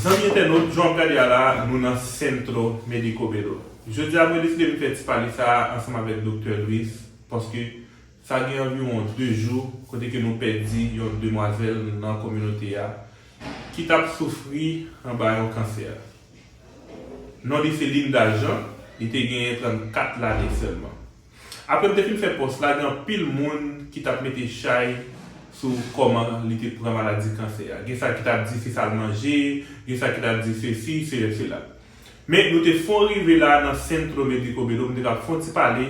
Zanmi entènot, jan wap gade a la, nou nan Centro Médico Bello. Jodi a mwen deside vin fè ti pale sa a ansanm avèk Doktè Louis paske sa gen anviwon 2 jou kote ke nou pèdi yon demwazèl nan kominote a ki tap soufri anba yon kansè. Non li se Linda Jean, li te genyen 34 lane sèlman. Apre m te fin fè pòs la gen anpil moun ki t ap mete chay sou kòman li te pran maladi kansè a. Gen sa ki t ap di se sa l manje, gen sa ki t ap di sesi, seyè sela. Men nou te fon rive la nan Centro Médico Bello m te kab fon ti pale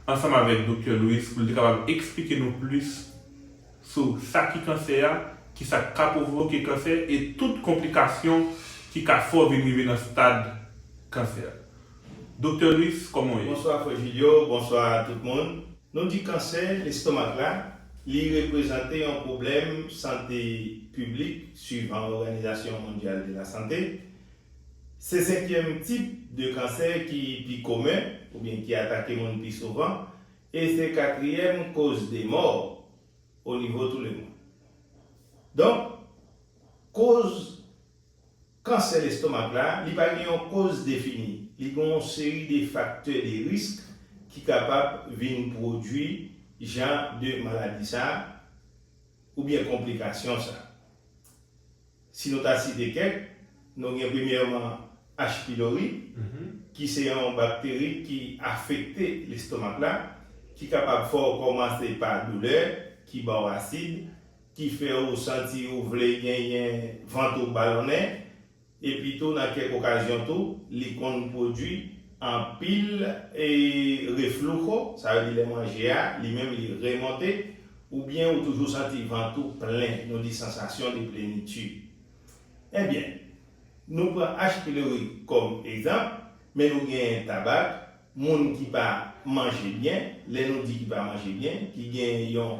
ansanm avèk Doktè Luis pou l te kapab eksplike nou plis sou sa ki kansè a, ki sa k ka pwovoke kansè e tout konplikasyon ki ka fè w vin rive nan stad kansè. Doktè Louis kòman w ye? Bonswa frè Julio, bonswa tout moun. Nou di kansè lestomak la, li reprezante yon pwoblèm sante piblik swivan Òganizasyon Mondyal de la Sante. Se senkyèm tip de kansè ki pi komen, oubyen ki atake moun pi souvan, e se katriyèm koz de mò onivo tou le mond. Donk, koz. Kansè lestomak la, li pa gen yon koz defini, li gen yon seri de faktè de risk ki kapab vin pwodui jan de maladi sa oubyen konplikasyon sa. Si nou ta site kèk, nou gen premyèman H. pylori ki se yon bakteri ki afekte lestomak la ki kapab fè w kòmanse pa doulè ki ba w asid, ki fè ou santi ou vle genyen vant ou balonnen, epitou nan kèk okazyon tou, li konn pwodui anpil reflujo, sa vle di lè manje a li menm li remonte, oubyen ou toujou santi vant ou plen, nou di sensation de plénitude. Ebyen, nou pran H. pylori kòm egzanp, men nou genyen tabak, moun ki pa manje byen, lè nou di ki pa manje byen, ki genyen yon.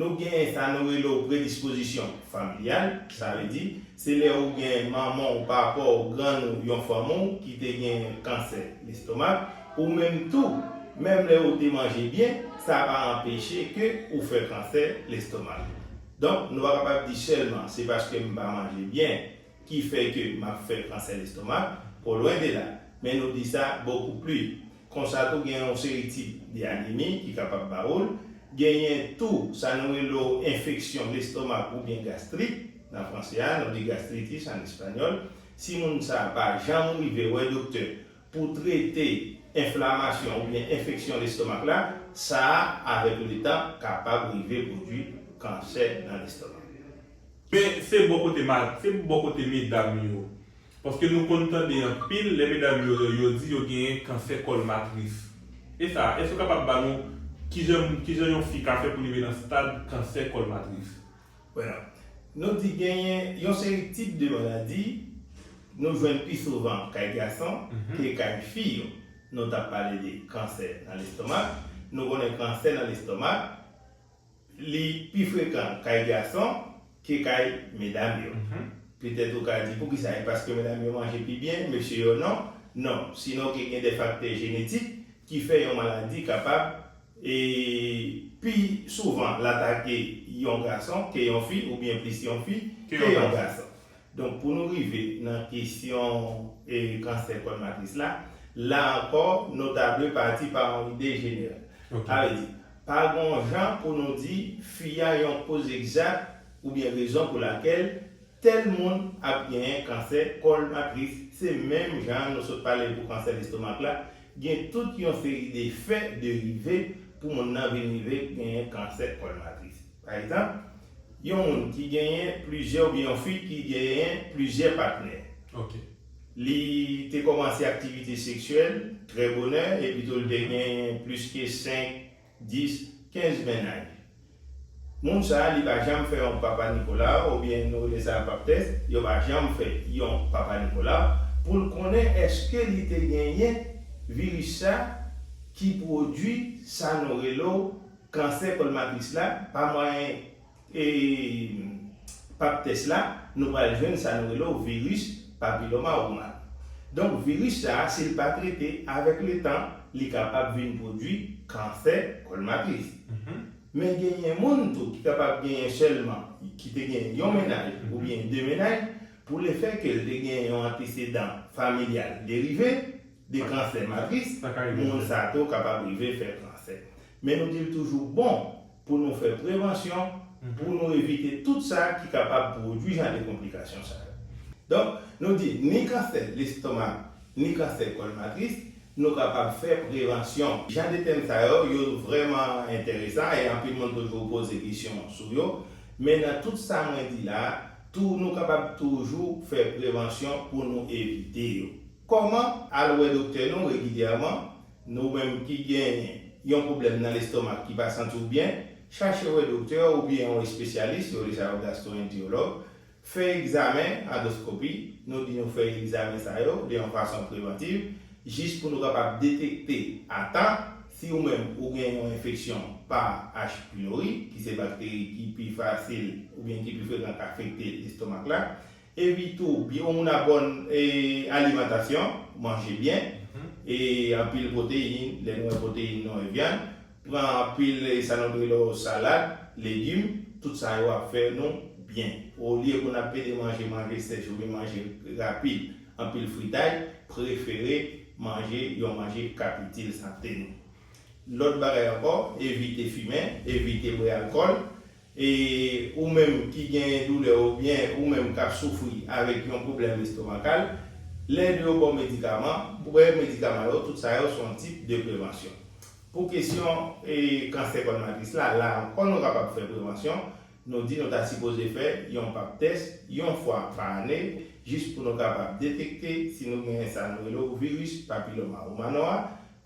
Nou gen sa nou rele w predispozisyon familyal, sa vle di, se lè ou gen manman w, papa w, grann ou, yon fanmi w ki te gen kansè lestomak, ou menm tou, menm lè ou te manje byen, sa pa anpeche ke ou fè kansè lestomak. Donk, nou pa kapab di sèlman se paske m pa manje byen, Ki fè ke map fè kansè lestomak, ko lwen de la. Men nou di sa bokou pli. Konsa tou gen yon seri tip de anemi ki kapab ba ou l. Genyen tou sa nou rele w enfeksyon lestomak oubyen gastrit, nan franse a, nou di gastritis an espanyòl. Si moun sa pa janm rive wè doktè, Pou trete enflamasyon oubyen enfeksyon lestomak la, sa a avèk letan kapab rive pwodwi kansè nan lestomak. Men se bò kote ma, se bò kote medam yo. Paske nou konn tande anpil lè medam yo yo yo di yo genyen kansè kòl matris. E sa, èske ou kapab ba nou kijan kijan yon fi ka fè pou li rive nan stad kansè kòl matris? Bueno. Nou di genyen yon seri tip de maladi nou jwenn pi souvan kay gason ke kay fi yo. Nou tap pale de kansè nan lestomak. Nou konnen kansè nan lestomak li pi frekan kay gason ke kay medam yo. Petèt ou ka di poukisa? E paske medam yo manje pi byen, mesye yo non? Non. Sinon ke gen de faktè jenetik ki fè yon maladi kapab E pi souvan l atake yon gason ke yon fi oubyen plis yon fi ke yon gason. Donk pou nou rive nan kesyon kansè kòl matris la, la ankò nou ta dwe pati pa yon ide jeneral. Sa vle di, pa gon jan pou nou di fi a yon koz egzat oubyen rezon pou lakèl Tel moun ap genyen kansè kòl matris se menm jan nou sot pale pou kansè lestomak la, gen tout yon seri de fè de rive pou moun nan vin rive genyen kansè kòl matris. Pa egzanp, yon moun ki genyen plizyè oubyen yon fi ki genyen plizyè patnè. Li te kòmanse aktivite seksyèl trè bonè e pito li te genyen plis ke 5 10, 15 mennaj. Moun sa li pa janm fè yon papa Nicolas ou byen nou rele sa pap tès, yo pa janm fè yon papa Nicolas poul konnen eske li te genyen virus sa ki pwodwi sa nou relo kansè kòl matris la pa mwayen E pap tès la, nou pral jwenn sa nou rele w viris papiloma ouman. Donk viris sa a si l pa trete, avèk letan li kapab vin pwodui kansè kòl matris. Men genyen moun tou ki kapab genyen sèlman, ki te genyen yon mennaj oubyen de mennaj, pou lefè ke l te genyen yon antesedan familyal derive de kansè matris, moun sa tou kapab rive fè kansè. Men nou di l toujou bon Pou nou fè prevansyon, pou nou evite tout sa ki kapab pwodwi jan de konplikasyon sa yo. Donk, nou di ni kansè lestomak, ni kansè kòl matris, nou kapab fè prevansyon. Jan de tèm sa yo, yo vrèman enteresan e anpil moun toujou poze kesyon sou yo. Men nan tout sa mwen di la a, tou nou kapab toujou fè prevansyon pou nou evite yo. Kòman? Al wè doktè nou regilyèman, Nou menm ki genyen yon pwoblèm nan lestomak ki pa santi w byen, chache wè doktè oubyen yon espesyalis, yo rele sa yo gastwoenteyològ, fè egzamen, andoskopi, nou di nou fè egzamen sa yo de yon fason prevantiv jis pou nou kapab detekte a tan si ou menm ou gen yon enfeksyon pa H. pylori ki se bakteri ki pi fasil oubyen ki pi frekan k afekte lestomak la. Epi tou yon moun a bòn alimantasyon, manje byen, e anpil pwoteyin, lè nou wè pwoteyin nou wè vyann, pran anpil sa nou rele yo salad, legim, tout sa yo ap fè nou byen. Olye pou n ap pede manje manje sèch oubyen manje rapid, anpil fritay, prefere manje yon manje k ap itil sante nou. Lòt bagay ankò, evite fimen, evite bwè alkòl, E ou menm ki gen doulè oubyen ou menm k ap soufri avèk yon pwoblèm estomakal, lè yo ba w medikaman, bwè medikaman yo, tout sa yo se yon tip de prevansyon. Pou kesyon kansè kòl matris la, la ankò nou kapab fè prevansyon, nou di nou ta sipoze fè yon pap tès yon fwa pa ane jis pou nou kapab detekte si nou gen sa nou rele w viris papiloma oumano a,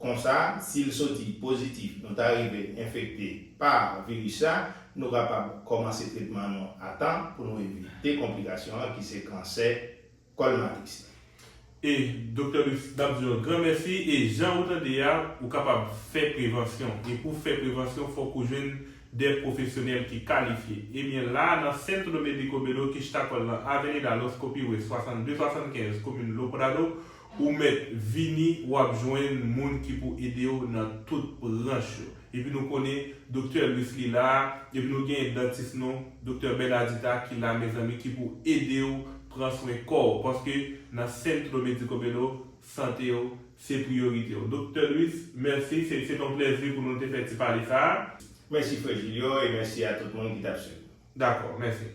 Konsa, si l soti pozitif nou ta rive enfekte pa viris la, nou kapab kòmanse tretman nou a tan pou nou evite konplikasyon an ki se kansè kòl matris la. E Doktè Luxe nap di yon gran mèsi e jan ou tande a ou kapab fè prevansyon e pou w fè prevansyon fòk ou jwenn de pwofesyonèl ki kalifye ebyen la nan Centro Médico Belo Quixtacol nan Avenida Los Copihue 6275 komin Loprado Ou mèt vini wap jwenn moun ki pou edew nan tout branch yo. Epi nou konnen Doktè Louis li la, epi nou gen dantis nou Doktè Bernadita ki la mezanmi ki pou edew pran swen kòw paske nan Centro Médico Bello santew se priyoritew. Doktè Louis mèsi se se ton plèzi pou nou te fè ti pale sa. Mèsi frè Julio e mèsi a tout moun ki tap swiv. Dakò, mèsi.